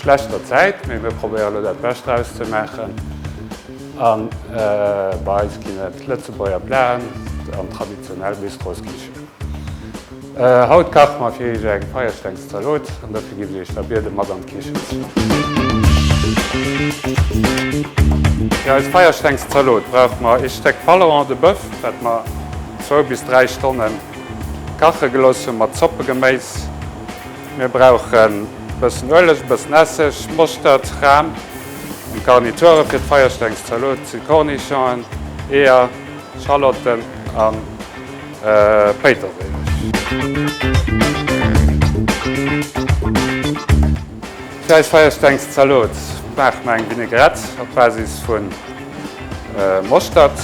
schlechter Zäit, mee mir probéiere lo dat Bescht draus ze maachen a bei eis ginn et Lëtzebuerger Platen an traditionell Bistros Kichen. Haut kache mer fir iech eng Feierstengszalot an dofir ginn ech der Bierde mat an d'Kichen. Fir eis Feierstengszalot brauche mer ee Stéck Paleron de Bœuf, wat mer zwou bis dräi Stonnen kache gelooss hunn, mat Zoppegeméis, Mir brauchen e bëssen Ueleg, e bëssen Esseg, Moschtert, Ram an Garniture fir d'Feierstengszalot si Kornischongen, Eeër, Schalotten a Péiterséileg. Fir eis Feierstengszalot maache mer eng Vinaigrette op Basis vu Moschtert.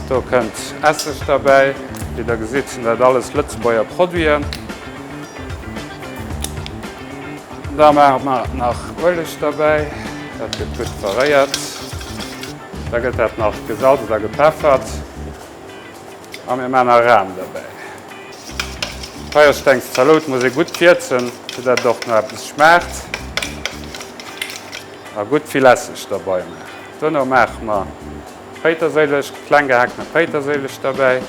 Do kënnt Esseg derbäi. Wéi der gesitt, sinn dat alles Lëtzebuerger Produiten. Da maache mer nach Ueleg derbäi. Dat gëtt gutt verréiert. Da gëtt dat nach gesalzt a gepeffert. A mir maachen nach Ram derbäi. D'Peierstengs Zalot muss ee gutt wierzen, fir dat et och no eppes schmaacht. A gutt vill Esseg derbei maachen. Dono maache mer d'Péiterséilech, kleng gehaakten Péiterséilech derbäi.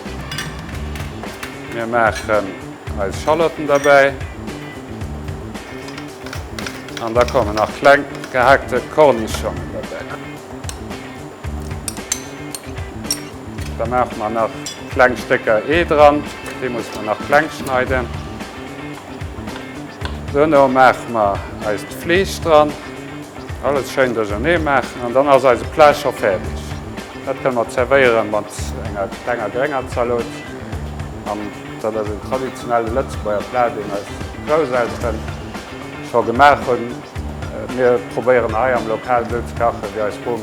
Mir maachen eis Schallotten derbäi an da kommen nach kleng gehaakte Kornischongen derbäi. Da maache mer nach kleng Stécker Ee dran, dee musse mer nach kleng schneiden. Dono maache mer eist Fleesch dran. Alles schéin duerchernee maachen an dann ass eise Plat scho fäerdeg. Dat kënne mer zerwéiere mat enger klenger grénger Zalot. An dat ass en traditionelle Lëtzebuerger Plat, deen eis Groussel-teren scho gemaach hunn. Mir probéieren hei am Lokal esou ze kachen, wéi eis Rom